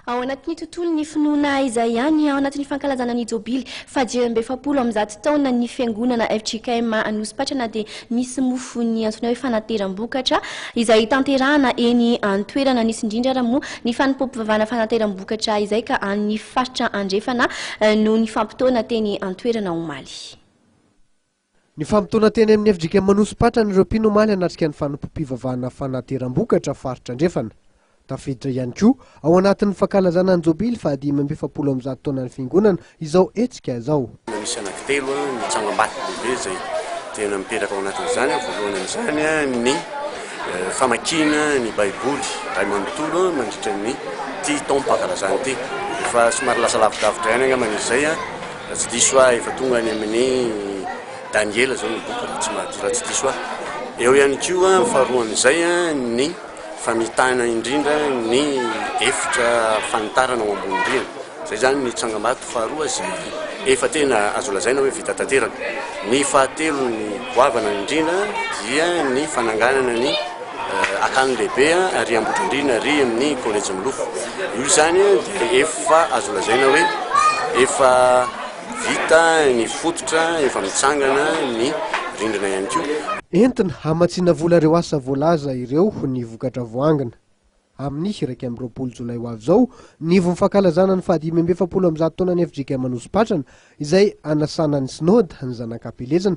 Ao anatin'ny tontolon'ny finoana aiza ihany ao anatin'ny fankalazana ny Jobily fahadimy amby efapolo amin'ny zato taona ny Fiangonana fjkm Anosipatrana dia misy mofo ny antsoina hoe fanateram-bokatra izay tanterahana eny an-toerana. Nisy indrindra ary moa ny fanompoam-pivavahana fanateram-bokatra izay ka an'ny faritra andrefana no nifampitaona teny an-toerana omaly. Nifampitona teny amin'ny FJKM Anosipatrana ireo mpino omaly hanatrika ny fanompoam-pivavahana fanateram-bokatra faritra andrefana. Tafiditra ihany koa ao anatin'ny fankalazana ny jobily fahadimy amby efapolo amin'ny zato taonan'ny fiangonana izao hetsika izao. Misy anankitelo ny tsangambato lehibe izay tena mipetraka ao anatin'izany. Voalohany amin'izany ny famakiana ny baiboly iray manontolo mandritra an'ity taom-pankalazana ity. Efa somary lasa lavidavitra ihany angamba izy izay. Raha tsy diso ahy efa tonga any amin'i Daniela izao ny boky raha tsy mahadiso, raha tsy diso ahy. Eo ihany koa faharoan'izay ny famitahana indrindra ny efitra fanitarana ao ambony rihana. Izay izany ny tsangambato faharoa izay efa tena azo lazaina hoe vita tanteraka. Ny fahatelo ny goavana indrindra dia ny fananganana ny. Akany lehibe ary Ambohidrandriana ary amin'ny Collège Milofo. Io izany dia efa azo lazaina hoe efa vita ny fototra, efa mitsangana ny rindrina ihany koa. Entina hamatsiana vola ireo asa voalaza ireo ny vokatra voangona. Amin'ny iraika amby roapolo jolay ho avy izao ny ivon'ny fankalazana ny fahadimy amby efapolo amby zato taonan'ny FJKM Anosipatrana izay hanasana ny Synode ny Zanak'Ampielezana,